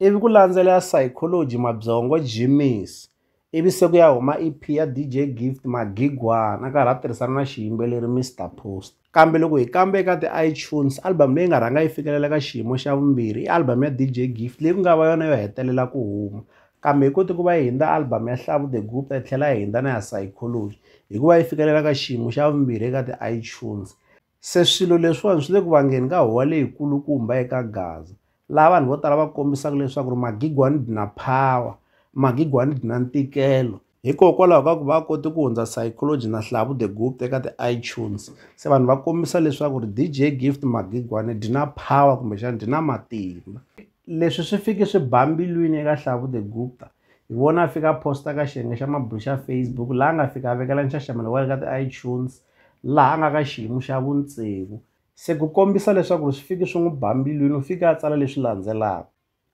ivi ku landzela ya Psychology Mabyongo Jimmy's ivi se ku ya huma EP ya DJ Gift Magigwana a karhi a tirhisana na xiyimbeleri Mr Post. Kambe loko hi kambe eka ti-iTunes album leyi nga rhanga yi fikelela ka xiyimo xa vumbirhi i album ya DJ Gift leyi ku nga va yona yo hetelela ku huma kambe yi kote ku va yi hindza album ya Hlavu The Gupta yi tlhela yi hindza na ya Psychology hikuva yi fikelela ka xiyimo xa vumbirhi eka ti-iTunes. Se swilo leswiwani swi le ku vangeni ka huwa leyikulukumba eka Gaza, laha vanhu vo tala va kombisaka leswaku ri magigwani dna phawa, magigwani dna ntikelo. Hikokwalaho ka ku va a kote ku hundza Saykoloji na Hlavu The Gupta eka ti iTunes, se vanhu va kombisa leswaku ri DJ Gift magigwani dna phawa kumbexana dna matimba. Leswi swi fike swi ba mbilwini eka Hlavu The Gupta, hi vona a fika a posta ka xiyenge xa mabulu xa Facebook laha a nga fika a vekela nxaxamelo wa le ka ti-iTunes laha a nga ka xiyimo xa vutsevu se ku kombisa leswaku ri swi fiki swi n'wi ba mbilwini u fike a tsala leswi landzelaka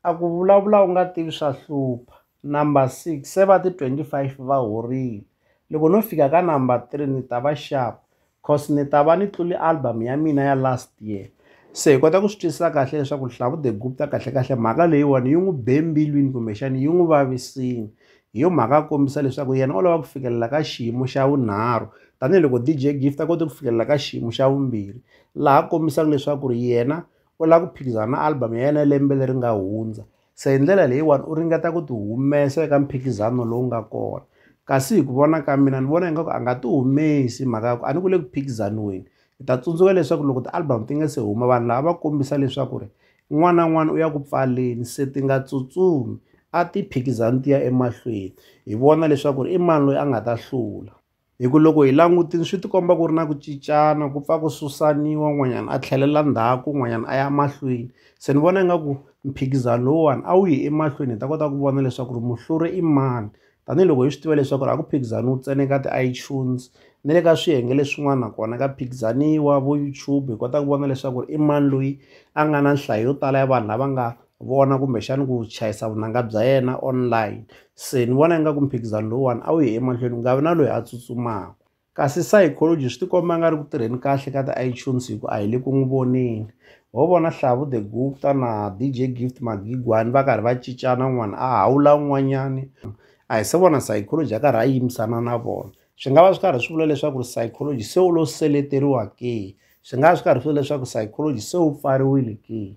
a ku vulavula u nga tivi swa hlupha number six se va ti-twenty-five va horile loko no fika ka number three ni ta va xava cause ni ta va ni tluli album ya mina ya last year se hi kota ku swi twisisa kahle leswaku Hlavu the Gupta kahlekahle mhaka leyiwani yi n'wi be mbilwini kumbexani yi n'wi vavisini hi yo mhaka a kombisa leswaku yena o lava ku fikelela ka xiyimo xa vunharhu tanihiloko DJ Gift a kote ku fikelela ka xiyimo xa vumbirhi laha kombisaka leswaku ri yena u lava ku phikizana na album ya yena ya lembe leri nga hundza se hi ndlela leyiwani u ringeta ku ti humesa eka mphikizano lowu nga kona kasi hi ku vona ka mina ni vona ingaku a nga ti humesi mhaka ya ku a ni ku le ku phikizaniweni hi ta tsundzuka leswaku loko ti-album ti nga se huma vanhu lava va kombisa leswaku ri n'wana na n'wana u ya ku pfaleni se ti nga tsutsumi a ti phikizani ti ya emahlweni hi vona leswaku ri i mani loyi a nga ta hlula hi ku loko hi langutile swi ti komba ku ri na ku cincana ku pfa ku susaniwa un'wanyana a tlhelela ndzhaku un'wanyana a ya mahlweni se ni vona ingaku mphikizano lowuwani a wu yi emahlweni hi ta kota ku vona leswaku ri muhluri i mani tanihiloko hi swi tiva leswaku ri a ku phikizaniwi ntsena eka ti-iTunes na le ka swiyenge leswin'wana nakona ka phikizaniwa vo YouTube hi kota ku vona leswaku i mani loyi a nga na nhlayo yo tala ya vanhu lava nga vona kumbexani ku chayisa vunanga bya yena online se ni vona ingaku mphikizano lowuwani a wu yi emahlweni ku nga vi na loyi a tsutsumaka kasi psychology swi tikomba nga ri ku tirheni kahle ka ti-itunes hi ku a hi le ku n'wi voneni ho vona Hlavu the Gupta na D_J Gift Magigwani va karhi va cincana un'wana a hawula un'wanyani a hi se vona psychology a karhi a yimisana na vona swi nga va swi karhi swi vula leswaku ri psychology se u lo seleteriwa ke swi nga va swi karhi swi vula leswaku psychology se wu pfariwile ke.